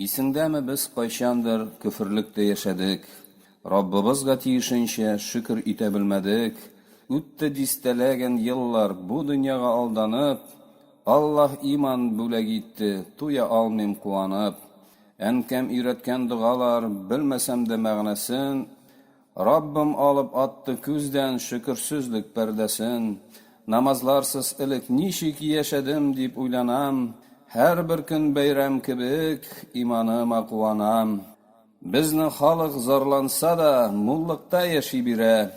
Исеңдәме, без кайчандыр көферлектә яшәдек, Раббыбызга тиешенчә шөкер итә белмәдек, үтте дистәләгән еллар, бу дөньяга алданып, Аллаһ иман бүләк итте, туя алмыйм куанып. Әнкәм өйрәткән догалар, белмәсәм дә мәгънәсен, Раббым алып атты күздән шөкерсезлек пәрдәсен. Намазларсыз элек ничек яшәдем дип уйланам, һәрбер көн бәйрәм кебек иманыма куанам. Безнең халык зарланса да, муллыкта яши бирә,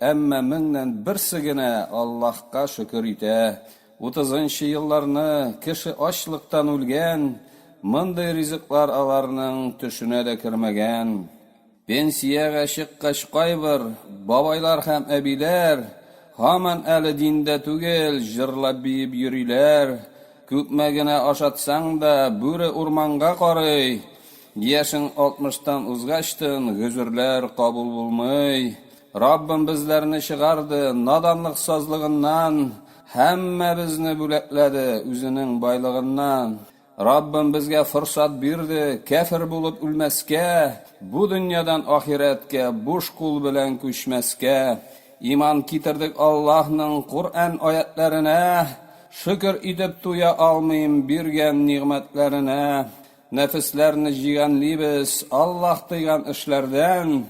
әмма меңнән берсе генә Аллаһка шөкер итә. Утызынчы елларны кеше ачлыктан үлгән, мондый ризыклар аларның төшенә дә кермәгән. Пенсиягә чыккач кайбер бабайлар һәм әбиләр һаман әле диндә түгел, җырлап-биеп йөриләр, күпме генә ашатсаң да, бүре урманга карый, яшең алтмыштан узгачтын гөзерләр кабул булмый, Раббым безләрне чыгарды, наданлык сазлыгыннан һәммәбезне бүләкләде, үзенең байлыгыннан. Раббым безгә форсат бирде, кәфер булып үлмәскә, бу дөньядан ахирәткә буш кул белән күчмәскә. Иман китердек Аллаһның Коръән аятьләренә, шөкер итеп туя алмыйм биргән нигъмәтләренә. Нәфесләрне җигәнлибез, Аллаһ тыйган эшләрдән,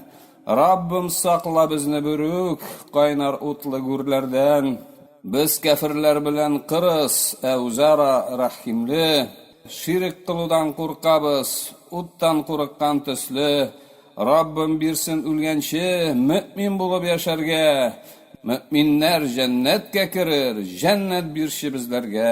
Раббым сакла безне бүрүк кайнар утлы гүрләрдән. Без кәферләр белән кырыс, ә үзара рәхимле. Ширек кылудан куркабыз, уттан курыккан төсле. Раббым бирсен үлгәнче мөэмин булып яшәргә. Мөэминнәр җәннәткә керер, җәннәт бирче безләргә.